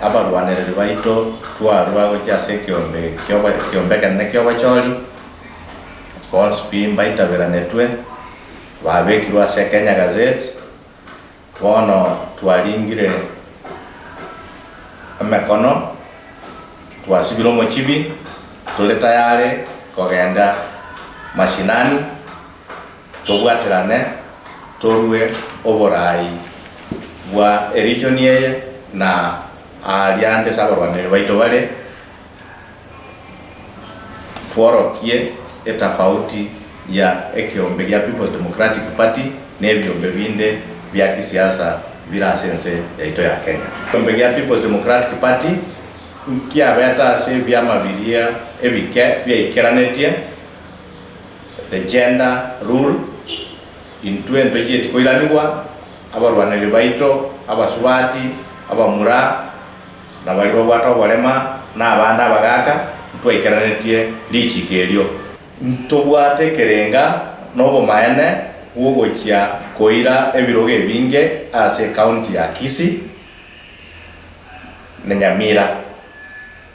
Abarwanereri baito twarua gochia ase ekeombe ekeombe ekenene ki'obochori, bonsi pi mbaitaberanetwe, babekirwe ase Kenya Gazette. Bono twaringire emekono, twasibire omochibi, tore tayare kogenda mashinani. tobwaterane torue oboraai bwa erigion eye na aaria ande ase abarwanireria baito bare, tworokie etafauti ya ekeombe gia People's Democratic Party na ebiombe binde bia kisiasa bire ase ense yaito ya Kenya. Ekeombe gia People's Democratic Party nkiabete ase ebiama biria ebike biaikeranetie The Gender Rule, Intwe ntochieti koiranigwa, abarwaneri baito, abasubati, abamura, na baria babwate oborema, na abande abagaaka, ntwaikeranetie richiiko erio. Ntobwate ekerenga na obomaene bw'ogochia koira ebirogo ebinge ase ekaunti ya Kisii na Nyamira.